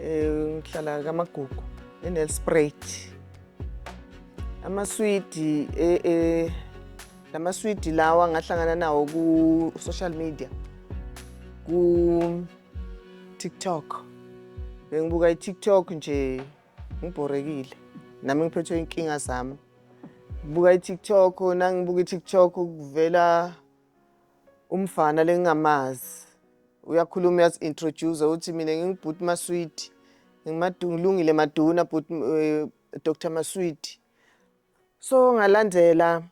um ngihlala kamagugu enelsprayt amaswidi eh, eh, lamaswidi lawa ngahlangana nawo ku-social media ku-tiktok bengibuka i-tiktok nje ngibhorekile nami ngiphethwe inkinga zami ngibuka i-tiktok nangibuka i-tiktok kuvela umfana lengingamazi uyakhuluma uyazi-introduce uthi mina ngingubhuti maswidi ngilungile maduna bhuti um eh, dr maswidi so ngalandela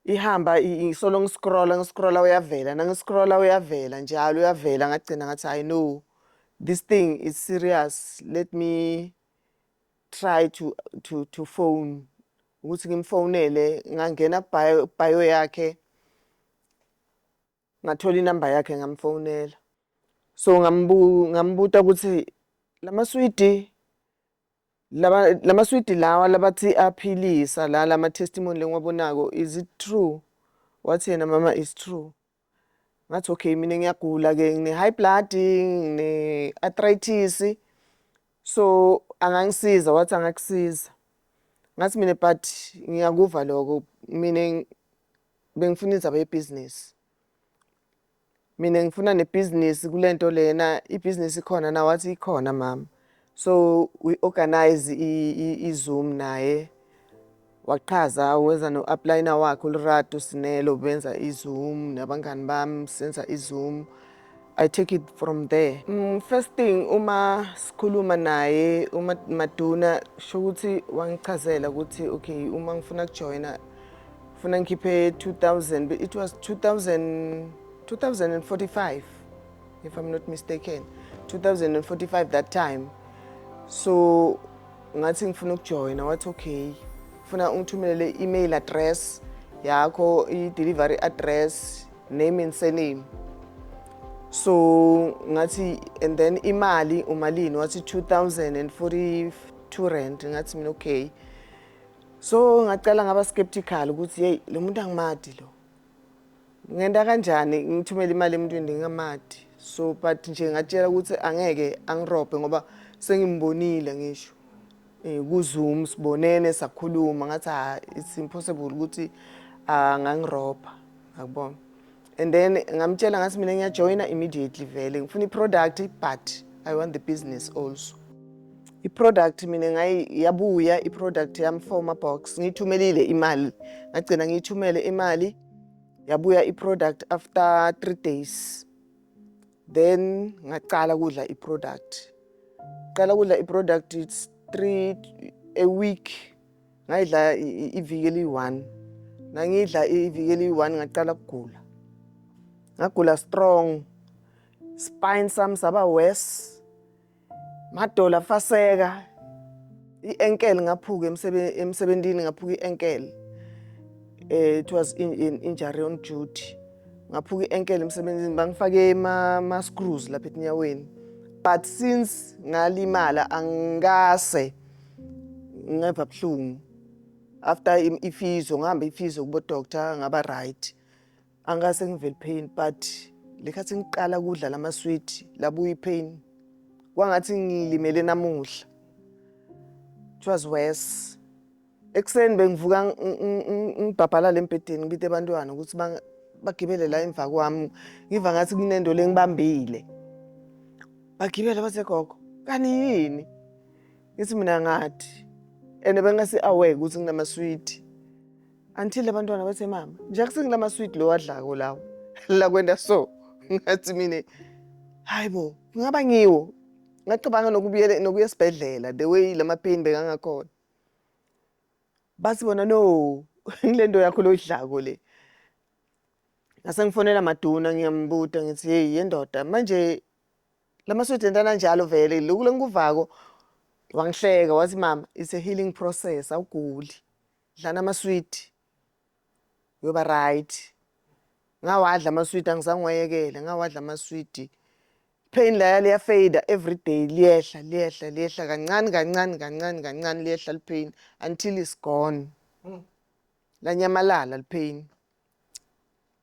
ihamba solo ngiscrolla ngiscrolla uyavela nangiscrolla uyavela njalo uyavela ngagcina ngathi hayi no this thing is serious let me try to to to phone ukuthi ngimfonele ngangena bio bio yakhe ngathola inamba yakhe ngamfonela so ngambu ngambuta ukuthi lamaswidi laba lamaswidi lawa labathi aphilisa la lama testimony lengiwabonako is it true wathi yena mama is true ngathi okay mina ngiyagula ke ngine high blood ngine arthritis so angangisiza wathi angakusiza ngathi mina but ngiyakuva lokho mina bengifuna indaba yebhizinisi mina ngifuna nebhizinisi kulento lena ibhizinisi ikhona na wathi ikhona mama so we organize i-zoom naye waqhaza wenza no-aplayina wakhe ulirato sinelo benza i-zoom nabangani bami senza i-zoom i take it from there mm, first thing uma sikhuluma naye uma maduna sho ukuthi wangichazela ukuthi okay uma ngifuna kujoyina funa ngikhiphe 2000 it was 2000 2045 if i'm not mistaken 2045 that time so ngathi ngifuna ukujoyina wathi okay funa ungithumelele i-email address yakho i-delivery address name and surname so ngathi and then imali umalini wathi 2042 rand ngathi mina okay so ngacela ngaba skeptical ukuthi hey lo muntu angimadi lo ngenta kanjani ngithumele imali emntwini ndingamadi so but nje ngatshela ukuthi angeke angirobhe ngoba sengimbonile ngisho um kuzoom sibonene sakhuluma ngathi ha ah, it's impossible ukuthi angangirobha ah, ngakubona and then ngamtshela ngathi mina ngiyajoyina immediately vele ngifuna i-product but i want the business also i-product mina ngayi yabuya i-product yami for ma-box ngiyithumelile imali ngagcina ngiyithumele imali yabuya i-product after three days then ngacala kudla i-product qala kudla i-product it's three a week ngayidla iviki eliyi-one nangidla iviki eliyi-one ngaqala kugula ngagula strong spine sami saba worse Madola faseka i-enkel ngaphuka emsebenzini ngaphuka i-enkel eh it was in, in injury on duty ngaphuka i-enkel emsebenzini bangifake ama screws lapha enyaweni but since ngalimala angase ngeva buhlungu after ifizo ngihamba ifizo kubo doctor ngaba right angase ngive lipain but lekhathi ngiqala kudla lamaswidi labuya ipain kwangathi ngilimele namuhla it was worse ekuseni bengivuka ngibhabhalala embhedeni ngibite abantwana ukuthi bagibele la emva kwami ngiva ngathi kunento lengibambile bagibele basegogo kani yini ngithi mina ngathi and bengasi aware ukuthi nginamaswidi Until abantwana bethe mama, nje akusengila ma sweet lo wadlako lawo. La kwenda so. Ngathi mina hayibo, ngaba ngiwo. Ngacabanga nokubuyela nokuya esibhedlela the way lama pain bekangakhona. Bathi bona no, ngilento yakho loyidlako le. Ngase ngifonela maduna ngiyambuta ngithi hey yendoda manje lama sweet entana njalo vele lokule ngikuvako wangihleka wathi mama it's a healing process awuguli. Dlana amaswidi. Uyoba right. Ngawadla amaswidi angizange wayekele, ngawadla amaswidi. Pain laya liya fader every day liyehla liyehla liyehla kancane kancane kancane kancane liyehla li pain until is gone. Mm. Lanyamalala li pain.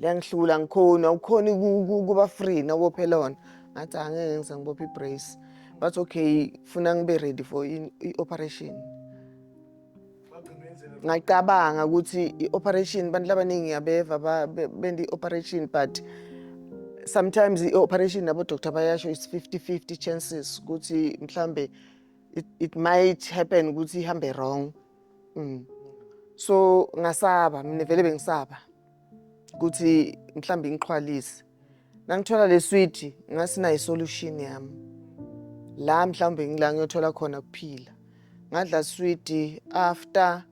liyangihlula ngikhoni awukhoni kuba free nabophela wona ngathi angeke ngize ngibophe i-brace but okay funa ngibe ready for i-operation ngacabanga ukuthi i-operation abantu labaningi yabeva benda i-operation but sometimes i-operation nabo-doctor bayasho is 50 50 chances ukuthi mhlambe it, it might happen ukuthi ihambe wrong Mm. So ngasaba mina vele bengisaba ukuthi mhlawumbe ngiqhwalise. Nangithola le switch ngasinayo solution yami. La mhlawumbe ngila ngiyothola khona kuphila. Ngadla switch after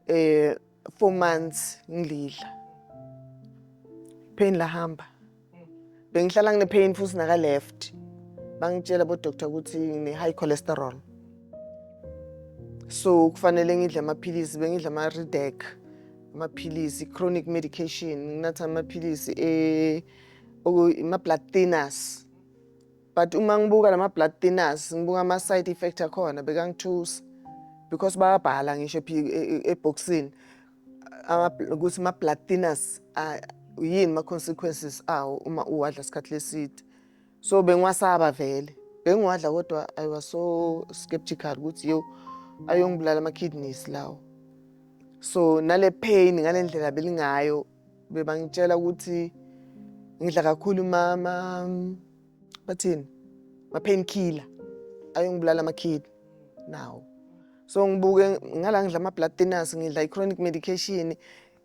eh 4 months ngilidla. Pain lahamba. bengihlala ngine pain futhi naka left bangitshela bo doctor ukuthi ngine high cholesterol so kufanele ngidle amaphilisi bengidla ama Redec amaphilisi chronic medication nginatha amaphilisi eh ama blood thinners but uma ngibuka lama blood thinners ngibuka ama side effect akhona bekangithusa because bayabhala ngisho e, e, e, ebhoxini ama ukuthi ma blood thinners yini ma consequences awo uma uwadla isikhathi leside so bengiwasaba vele bengiwadla kodwa i was so skeptical ukuthi yo ayongibulala ama kidneys lawo so nale pain ngalendlela belingayo bebangitshela ukuthi ngidla kakhulu mama bathini ma-pain killer ayongibulala amakhidi nawo so ngibuke ngala ngidla ama-blood thinners ngidla i-chronic medication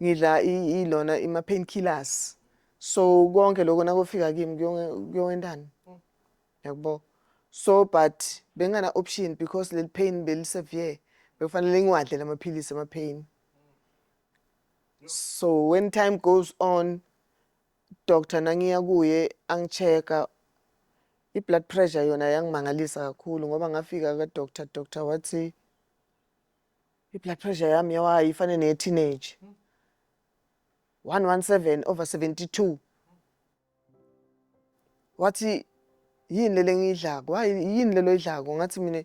ngidla ilona ima-pain killers so konke lokho nakofika kimi kuyowentani yakubo so but bengana-option because leli pain belisevere bekufanele ngiwadle la maphilisi ama-pain so when time goes on Doctor nangiya kuye angichecka i blood pressure yona yangimangalisa kakhulu ngoba ngafika ka doctor doctor wathi i blood pressure yami yawayi ifane neye teenage 117 over 72 wathi yini lele ngiyidlako hayi yini lelo idlako ngathi mina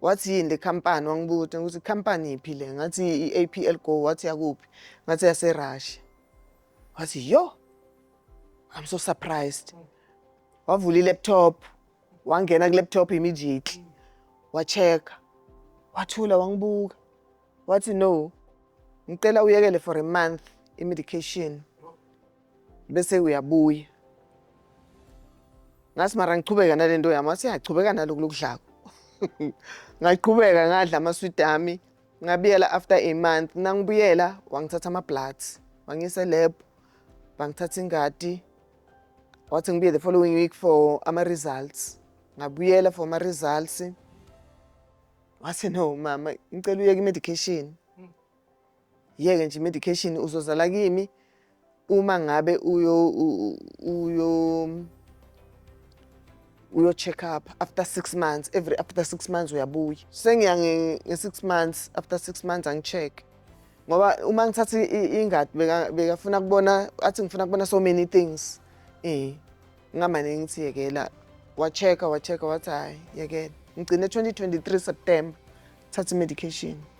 wathi yini le company wangibuta ukuthi company iphi le ngathi i-APL Go wathi yakuphi ngathi yase Russia wathi yo I'm so surprised wavula i-laptop wangena ku-laptop immediately wachecka wathula wangibuka wathi no ngicela uyekele for a month i-medication bese uyabuya ngathi mara ngichubeka nale nto yami wathi yachubeka naloku lokudlako ngaqhubeka ngadla amaswidi ami ngabuyela after a month nangibuyela wangithatha ama-bloods wangiyisa elab bangithatha ingadi wathi ngibuye the following week for ama-results ngabuyela for ama-results wathi no mama ngicela uyeke i-medication yeke nje medication uzozala kimi uma ngabe uyo uyo uyo check up after 6 months every after 6 months uyabuya sengiya nge 6 months after 6 months angicheck ngoba uma ngithatha ingadi beka bekafuna kubona athi ngifuna kubona so many things eh ngamane ngithi yekela wa check wa check wathi hayi yekela ngigcine 2023 September thatha medication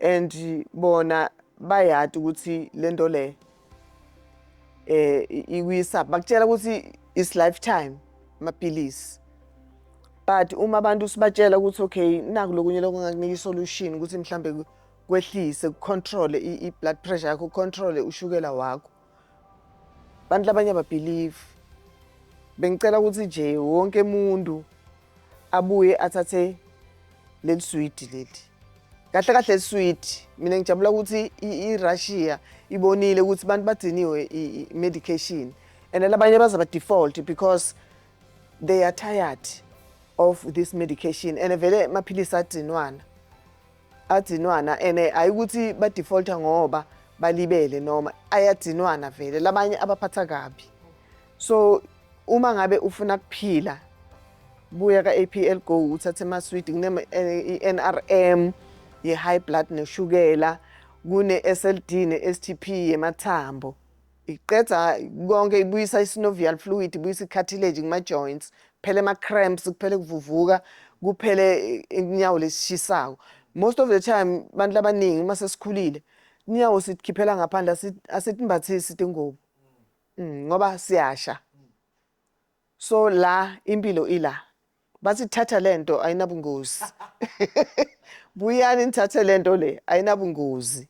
and bona bayati ukuthi lento le eh ikwisa bakutshela ukuthi is lifetime mapilisi but uma abantu sibatshela ukuthi okay naku lokunye lokungakunika isolution ukuthi mhlambe kwehlise kucontrol i-blood pressure yakho ucontrole ushukela wakho abantu labanye ababhilivi bengicela ukuthi nje wonke umuntu abuye athathe leli swidi leli kahle kahle liswidi mina ngijabula ukuthi i-russia ibonile ukuthi abantu badiniwe i-medication and labanye baze ba-default because they are tired of this medication and vele maphilisi adinwana adzinwana ene hayi ukuthi badefaulta ngoba balibele noma ayadzinwana vele labanye abaphatha kabi so uma ngabe ufuna kuphila buya ka-apl go uthathe amaswidi kune-nrm eh, ye-high blood neshukela kune-sld ne-stp yemathambo Iqeda konke ibuyisa i-synovial fluid, ibuyisa i-cartilage kuma-joints, kuphele ama-cramps, kuphele kuvuvuka, kuphele inyawo lesishisayo. Most of the time abantu labaningi uma sesikhulile inyawo sitikhiphela ngaphandle asitimbathisi tingubo mm, ngoba siyasha So la impilo ila. Bathi thatha lento ayinabungozi. Buyani nithathe lento le ayinabungozi.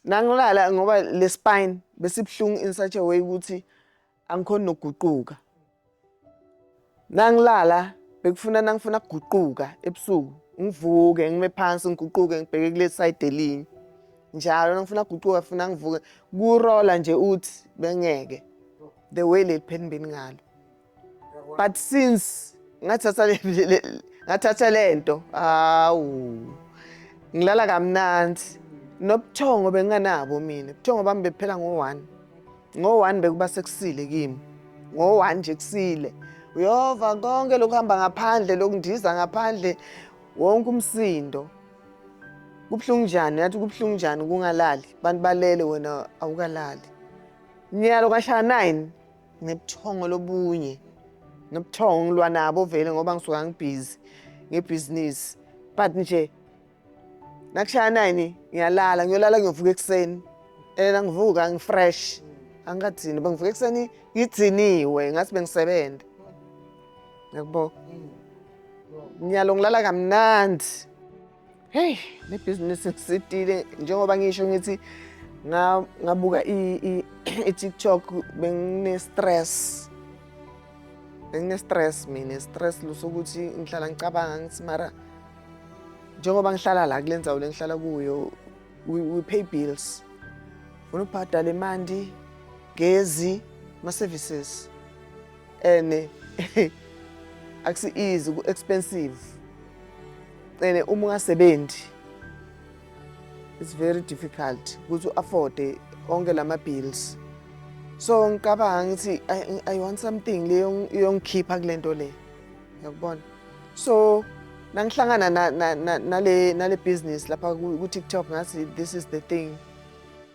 Nangilala ngoba le spine besibhlungu in such a way ukuthi angikhona nokuguquka. Nangilala bekufuna nangifuna kuguquka ebusuku ngivuke ngime phansi ngiguquke ngibheke kule side elinye. Njalo nangifuna kuguquka funa ngivuke kurola nje uthi bengeke. the way leli pheni beningalo but since ngathatha ngathatha lento hawu ngilala kamnandi nobuthongo benginganabo mina ubuthongo bami bephela ngo-one ngo-one bekuba sekusile kimi ngo-one nje kusile uyova konke lokuhamba ngaphandle lokundiza ngaphandle wonke umsindo kubuhlungu njani yathi kubuhlungu njani kungalali abantu balele wena awukalali Nyalo kashaya 9 ngebuthongo lobunye nobuthongo ngilwa nabo vele ngoba ngisuka ngibhizi ngebhizinisi but nje nakushaya nine ngiyalala ngiyolala ngiyovuka ekuseni and angivuka ngifresh angikathini uba ngivuka ekuseni ngidiniwe ngathi bengisebenza ngiyakubona ngiyalo ngilala kamnandi Hey, le business ngisitile njengoba ngisho ngithi ngabuka i-TikTok bengine stress. Bengine stress mina, stress lusokuthi ngihlala ngicabanga ngithi mara njengoba ngihlala la kule nzawo lengihlala kuyo we, we pay bills. Unubhadala imandi, gezi, ma services. and akusi easy ku expensive and uma ungasebenzi it's very difficult ukuthi u-afforde onke lama bills so ngicabanga ngithi I, i want something leyo yongikhipha kulento le yakubona so nangihlangana na, na, na, nale nale business lapha ku TikTok ngathi this is the thing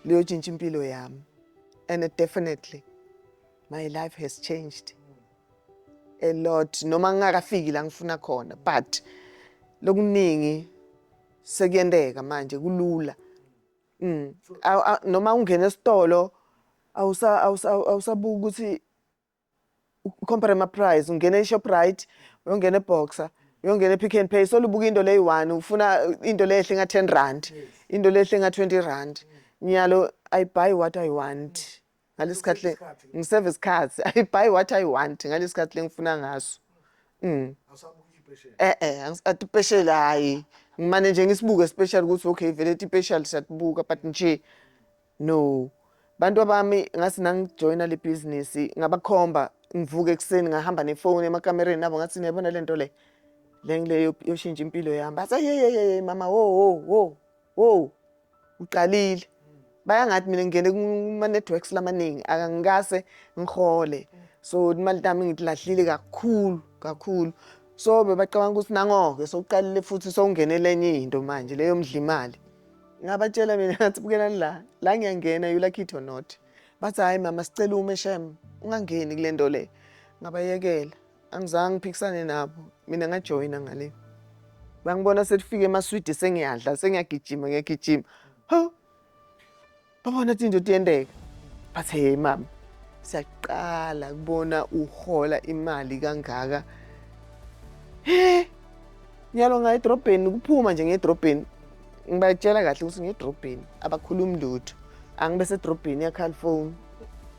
leyotshintsha impilo yami and definitely my life has changed a lot noma ngingakafiki la ngifuna khona but lokuningi sekuyenteka manje kulula mm. noma ungena esitolo awusabuka ukuthi compare ama price ungena eShoprite uyongena eBoxer uyongena ePick and Pay solubuka into leyi one ufuna into lehle nga 10 rand into lehle nga 20 rand nyalo i buy what i want ngalesikhathi le ngiseve isikhathi i buy what i want ngalesikhathi lengifuna ngaso mm eh eh atipeshela hayi ngimane nje ngisibuke special ukuthi okay vele tipeshal siyatibuka but nje no bantu abami ngathi nangijoyina le business ngabakhomba ngivuke ekuseni ngahamba nefoni emakamereni nabo ngathi niyabona le nto le le ngile yoshintsha impilo yami bathi yeyeyeye mama wo wo wo Wow, uqalile. Bayangathi mina ngingene kuma-networks lamaningi akangikase ngihole. So imali tami ngilahlile kakhulu kakhulu. So bebacabanga ukuthi nangoke sokuqalile futhi sowungenele enye into manje leyo mdla imali. Ngabatshela mina ngathi bukelani la, la ngiyangena you like it or not. Bathi hhayi mama sicela ume shem ungangeni kule nto le. Ngabayekela. angizange ngiphikisane nabo mina ngajoyina ngale bangibona selifike emaswidi sengiyadla sengiyagijima ngiyagijima ho babona ukuthi indoda iyendeka bathi hey mama siyaqala kubona uhola imali kangaka he nyalo ngaye edrobheni kuphuma nje ngedrobheni ngibayitshela kahle ukuthi ngedrobheni abakhulumi lutho angibe sedrobheni yakhalifoni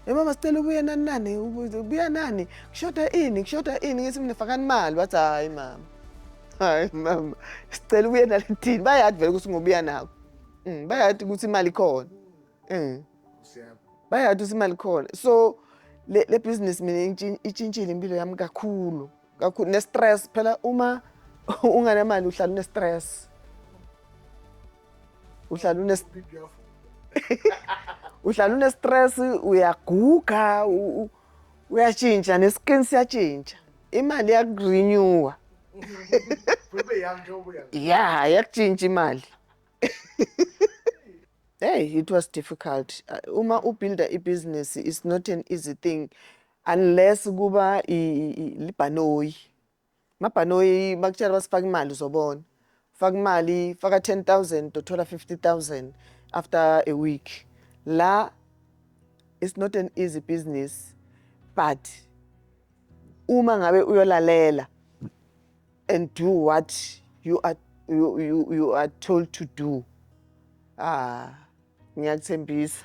emama sicela ubuye nani nani ubuya nani kushoda ini kushoda ini ngithi mina fakani imali wathi hhayi mama hhayi mama sicela ubuye nalithini bayadi vele ukuthi ngobuya nako mm, bayadi ukuthi imali khona mm. bayadi ukuthi imali khona so le business mina itshintshile impilo yami kakhulu kakhulu ne-stress phela uma unganamali uhlala une-stress uhlala une uhlala une-stress uyaguga uyatshintsha ne-skin siyatshintsha imali yakurenewa ya yakutshintsha imali hey it was difficult uh, uma ubuilda ibhizinisi it's not an easy thing Unless kuba libhanoyi. Mabhanoyi bakutshela basifaka imali uzobona. Faka imali, faka 10,000 uthola 50,000 after a week. La it's not an easy business but uma ngabe uyolalela and do what you are you, you, you are told to do ah ngiyakuthembisa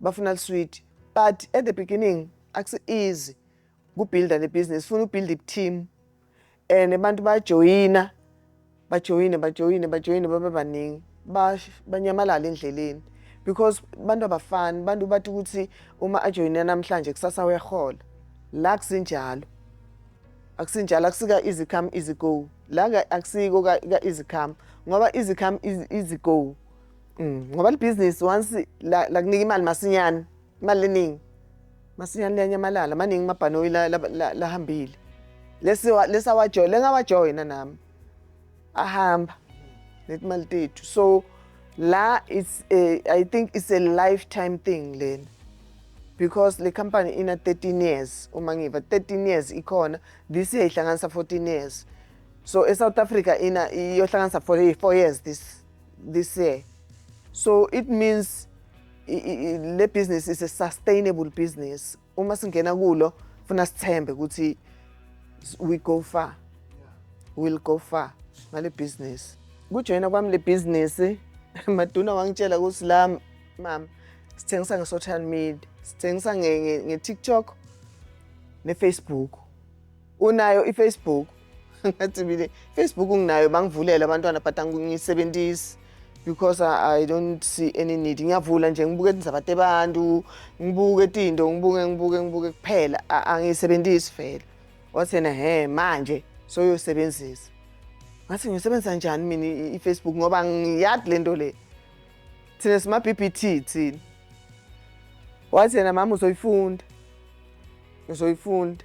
bafuna liswidi but at the beginning akusi easy kubuilda le business funa ubuild iteam and abantu bajoyina bajoyine bajoyine bajoyine babe baningi banyamalala endleleni because abantu abafani abantu bathi ukuthi uma ajoyine namhlanje kusasa uyahola la kusinjalo akusinjalo akusika easy come easy go la akusiko ka easy come ngoba easy come easy go Mm, ngoba libhizinisi once la- lakunika imali masinyane imali eningi masinyane liyanyamalala maningi amabhanoyi la- la- la- lahambile Lesi wa- lesawajoyina lengawajoyina nami ahamba netimali tethu so la it's a, i think it's a lifetime thing lena because le company ina 13 years uma ngiva 13 years ikhona this year ihlanganisa 14 years so esouth africa ina iyohlanganisa 4 years this this year. So it means le business is a sustainable business. Uma singena kulo funa sithembe ukuthi we go far. We'll go far ngale business. Kujoyina kwami le business Maduna wangitshela ukuthi la mama sithengisa nge social media, sithengisa nge TikTok ne Facebook. Unayo iFacebook? Ngathi mina Facebook nginayo bangivulele abantwana but angisebenzisi because I, I don't see any need. Ngiyavula nje ngibuke izabate abantu, ngibuke izinto, ngibuke ngibuke ngibuke kuphela angisebenzisi vele. Wathi yena he manje soyosebenzisa. Ngathi ngisebenzisa njani mina iFacebook ngoba ngiyadi lento le. Thina sima BBT thina. Wathi yena mama uzoyifunda. Uzoyifunda.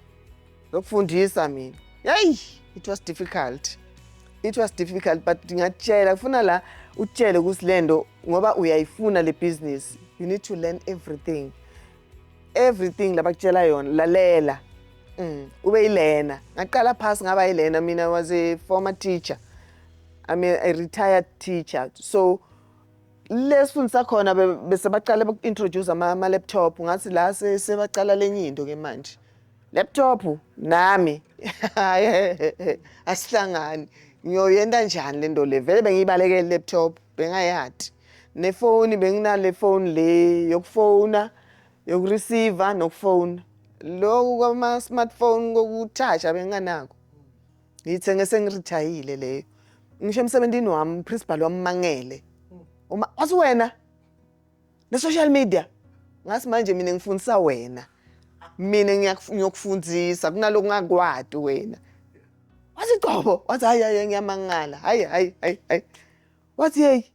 zokufundisa mina yeyi it was difficult it was difficult but ndingatshela kufuna la utshele ukuthi le nto ngoba uyayifuna le business you need to learn everything everything labakutshela yona lalela mm. ube yilena ngaqala phasi ngaba yilena mina was a former teacher i'm a, a retired teacher so Le sifundisa khona be- bese baqale baku-introduce ama- ama-laptop ngathi la se- sebaqala lenye into ke manje laptop nami asihlangani ngiyoyenta njani le nto le vele bengiyibalekele i-laptop bengayati nefoni benginale foni le yokufona yokureceiver nokufona loku kwama-smartphone kokuthasha benginganako ngiyithenge sengirijayile leyo ngisho emsebenzini wami uprincipal wammangele uma wathi wena ne-social media ngathi manje mina ngifundisa wena mina ngiyokufundisa kunaloko ngakwati wena wathi qobo wathi hayi hayi ngiyamangala hayi hayi hayi hayi wathi yeyi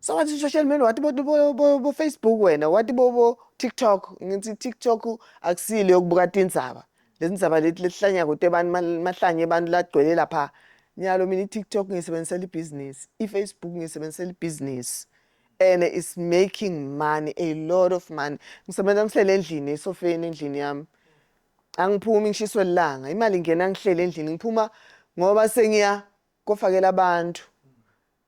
Sawathi social media wathi bo, bo, bo, bo Facebook wena wathi bo, bo TikTok ngithi TikTok akusile yokubuka tindzaba letindzaba leti letihlanya kuto abantu mahlanye abantu lagcwele lapha nyalo mina i-TikTok ngiyisebenzisela ibhizinisi i-Facebook ngiyisebenzisela ibhizinisi and it's making money a lot of money ngisebenza ngihlele endlini esofeni endlini yami angiphumi ngishiswe lilanga imali ngena ngihlele endlini ngiphuma ngoba sengiya kofakela abantu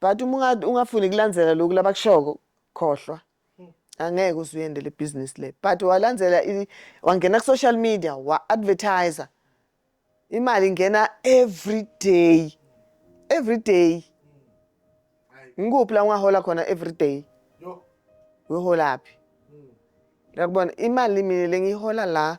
But uma unga- ungafuni kulandzela loku labakushoko khohlwa. Angeke uze uyende le business le. But walandzela i- wangena ku social media wa advertiser. Imali ingena every day. Every day. Ngikuphi la ungahola khona every day? Uyoholaphi? Uyakubona imali mina lengiyihola la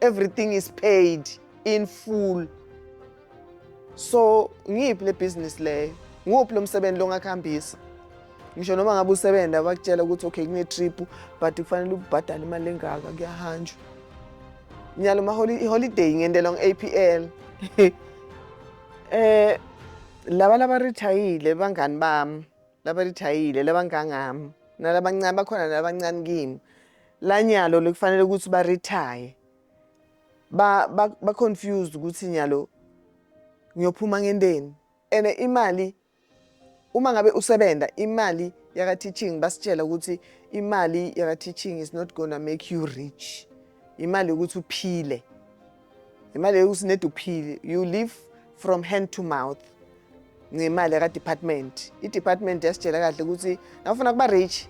everything is paid in full so ngiyiphi le business leyo nguphi lo msebenzi longakuhambisa ngisho noma ngabe usebenza bakutshela ukuthi okay kune-trip but kufanele ubhadale imali engaka kuyahanjwa nyalo iholiday ngendelwa nge-apl eh laba labarithayile bangani bami labarithayile labangangami nalabancane bakhona nalabancane kimi lanyalo lekufanele ukuthi baretire ba ba, ba confused ukuthi nyalo ngiyophuma ngenteni and imali uma ngabe usebenza imali yaka teaching basitshela ukuthi imali yaka teaching is not gonna make you rich imali ukuthi uphile imali yokusineda uphile you live from hand to mouth ngemali yakadepartment idepartment yasitshela kahle ukuthi nawufuna kuba rich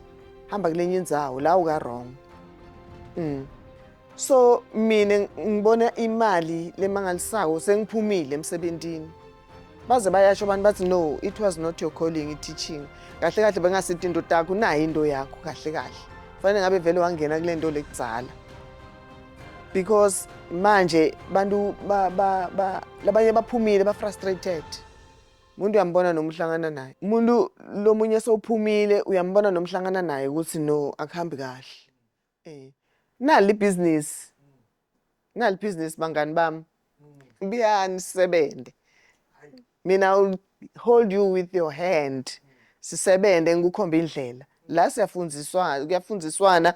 hamba kulenye indzawo la uka-wrong mm. so mina ngibona imali lemangalisako sengiphumile emsebentini baze bayasho abantu bathi no it was not your calling i-teaching kahle kahle bengasiti into takho unayo into yakho kahle kahle fanele ngabe vele wangena kule nto lekudzala because manje bantu labanye baphumile ba-frustrated umuntu uyambona noma uhlangana naye umuntu lomunye sowuphumile uyambona noma uhlangana naye ukuthi no akuhambi kahle Eh. Nali ibhizinisi. Nali ibhizinisi bangani bami. Buyani sisebenze. Mina will hold you with your hand. Sisebenze ngikukhomba indlela. La siyafundiswa kuyafundiswana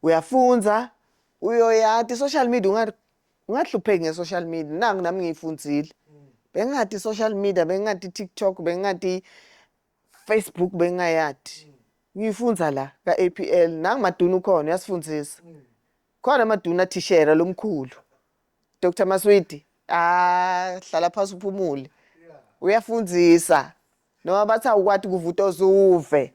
uyafunza uyoyati social media ungathi ungahlupheki nge social media nangu nami ngiyifundile. Bengathi social media bengathi TikTok bengathi Facebook bengayadi ngiyifundza la ka-APL nangu maduna ukhona uyasifundisa khona amaduna athishera lomkhulu Dr Maswidi ah hlala phasi uphumule uyafundisa noma bathi awukwati kuvuta ozuve